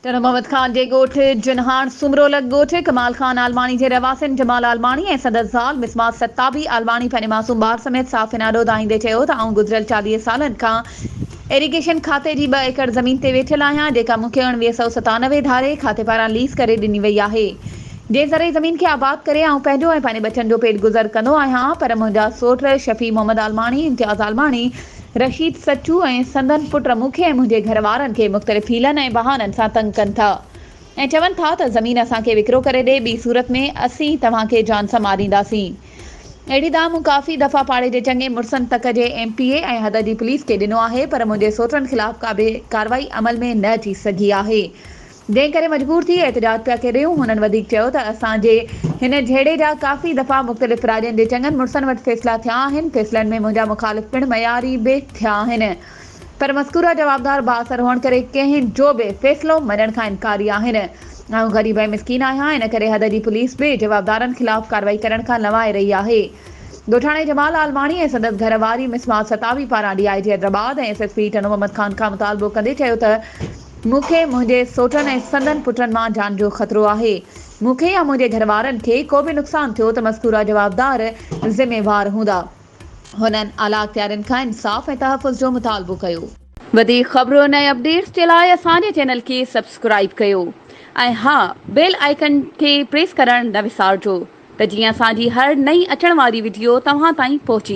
تنھن محمد خان جي ڳوٺ جن ھاڻ سومرو لڳ ڳوٺ ڪمال خان عالماڻي جي رھواسين جمال عالماڻي ۽ سندس زال مسمات ستابي عالماڻي پنھنجي معصوم ٻار سميت صافين آڏو دانھيندي چيو ته آئون گذريل چاليھه سالن کان ايريگيشن کاتي جي ٻه ايڪڙ زمين تي ويٺل آھيان جيڪا مون کي اوڻويھه سؤ ستانوي ڌاري کاتي پاران ليز ڪري ڏني وئي آھي جنھن زرعي زمين کي آباد ڪري آئون پنھنجو ۽ پنھنجي ٻچن جو پيٽ گذر ڪندو آھيان پر منھنجا سوٽ شفيع محمد عالماڻي امتياز عالماڻي رشيد سچو ۽ سندن پٽ مونکي ۽ منهنجي گهر وارن کي مختلف حيلن ۽ بهانن سان تنگ ڪن ٿا ۽ چون ٿا ته زمين اسان کي وڪرو ڪري ڏي ٻي صورت ۾ اسين توهان کي جان سان مارينداسين. اهڙي دانهن مون ڪافي دفعا پاڙي جي چڱي مڙسن تڪ جي ايم پي اي ۽ حد جي پوليس کي ڏنو آهي پر منهنجي سوٽن خلاف ڪابه ڪارروائي عمل ۾ نه اچي سگهي آهي. جنهن ڪري مجبور ٿي احتجاج پيا ڪريون. هنن وڌيڪ چيو ته اسان جي هن جهيڙي جا ڪافي دفعا مختلف راڄن جي چڱن مڙسن وٽ فيصلا ٿيا آهن، فيصلن ۾ منهنجا مخالف پڻ معياري به ٿيا آهن، پر مذڪوره جوابدار بااثر هئڻ ڪري ڪنهن جو به فيصلو مڃڻ کان انڪاري آهن. آئون غريب ۽ مسڪين آهيان، ان ڪري حد جي پوليس به جوابدارن خلاف ڪارروائي ڪرڻ کان لنوائي رهي آهي. ڳوٺاڻي جمال عالماڻي ۽ سندس گهر واري مسمات ستاوي پاران D I G Hyderabad ۽ S S P Tando Muhammad Khan کان مطالبو ڪندي چيو ته، مون کي منهنجي سوٽن ۽ سندن پٽن مان جان جو خطرو آهي. مون کي يا منهنجي گهر وارن کي ڪو به نقصان ٿيو ته مذڪوره جوابدار ذميوار هوندا. هنن اعليٰ اختيارين کان انصاف ۽ تحفظ جو مطالبو ڪيو. وڌيڪ خبرن ۽ اپڊيٽس جي لاء اسان جي چينل کي سبسڪرائيب ڪيو ۽ ها بيل آئيڪن کي پريس ڪرڻ نه وسارجو ته جيئن اسان جي هر نئين اچڻ واري وڊيو توهان تائين پهچي.